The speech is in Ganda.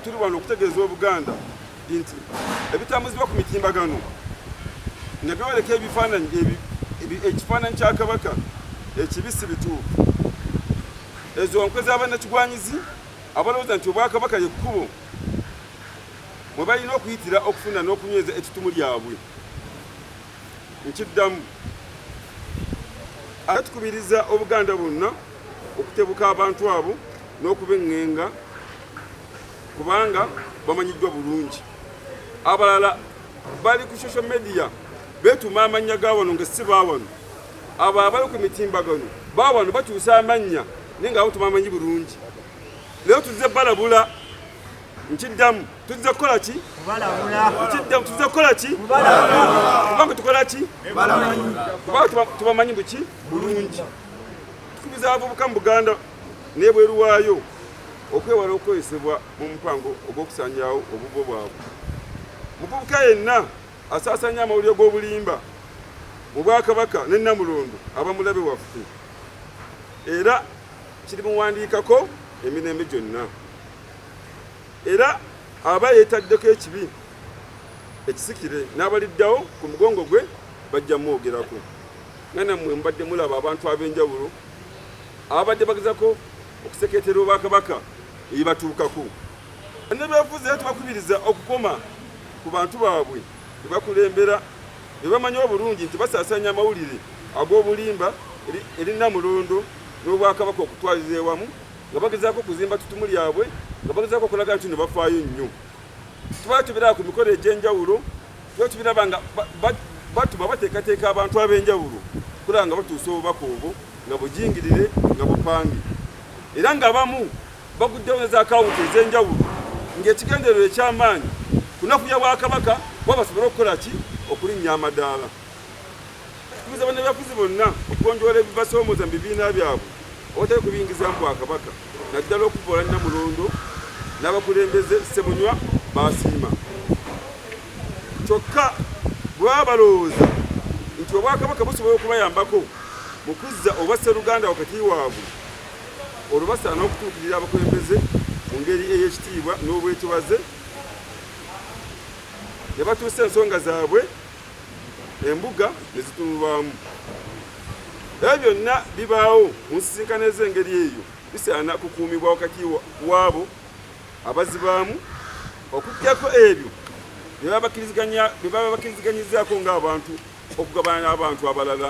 tuli wano okutegeeza obuganda nti ebitambuzibwa ku mitimbagano nga byoleka ebifaananyi ekifaananyi kya kabaka ekibisi bituufu ezo nkwe z'abannakigwanyizi abalowooza nti obwakabaka lye kkubo mwe balina okuyitira okufuna n'okunyweza ettutumu lyabwe nkiddamu ate tukubiriza obuganda bwonna okutebuka abantu abo n'okubeŋŋenga kubanga bamanyiddwa bulungi abalala bali ku social media beetuma amannya ga wano nga si ba wano abo abali ku mitimbagano baba bano bakyusa amannya naye nga abo tubamanyi bulungi leero tuzze balabula nkiddamu tuzze kukola ki nkiddamu tuzze kukola ki kubanga tukola ki kubanga tubamanyi buki bulungi tukubiza abavubuka mu buganda nebweru waayo okwewala okukozesebwa mu mupango ogw'okusanyawo obuvo bwabwe muvubuka yenna Asaasanya amawulire g'obulimba mu Bwakabaka ne Namulondo aba mulabe waffe era kirimuwandiikako emirembe gyonna era aba yeetaddeko ekibi ekisikire n'abaliddawo ku mugongo gwe bajja mwogerako nga nammwe mubadde mulaba abantu ab'enjawulo ababadde bagezako okusekeetera obwakabaka ebibatuukako nebyafuzi era tubakubiriza okukoma ku bantu baabwe be bakulembera be bamanyi obulungi nti basaasaanya amawulire ag'obulimba eri Namulondo n'Obwakabaka okutwalira ewamu nga bagezaako okuzimba ttutumu lyabwe nga bagezaako okulaga nti no bafaayo nnyo tuba tubiraba ku mikolo egy'enjawulo tuba tubiraba nga batuma bateekateeka abantu ab'enjawulo kulaba nga batuusa obubaka obwo nga bujingirire nga bupange era nga bamu baguddewo ne zaakawunti ez'enjawulo ng'ekigendererwa eky'amaanyi kunafuya bwakabaka kuba basobole okukola ki okulinnya amadaala tukubiza bannabyafuzi bonna okugonjoola ebibasoomooza mu bibiina byabwe awatali kubiyingiza mu bwakabaka naddala okuvoola nnamulondo n'abakulembeze ssemunywa baasiima kyokka bwe baba balowooza nti obwakabaka busobola okubayambako mu kuzza obwa sseruganda wakati waabwe Olwo basaana okutuukirira abakulembeze mu ngeri ey'ekitiibwa n'obwetowaze ne batuusa ensonga zaabwe embuga ne zitunulwamu. Ebyo byonna bibaawo mu nsisinkano ez'engeri eyo bisaana kukuumibwa wakati waabo abazibaamu okuggyako ebyo bye baba bakkiriziganyizzaako ng'abantu okugabana n'abantu abalala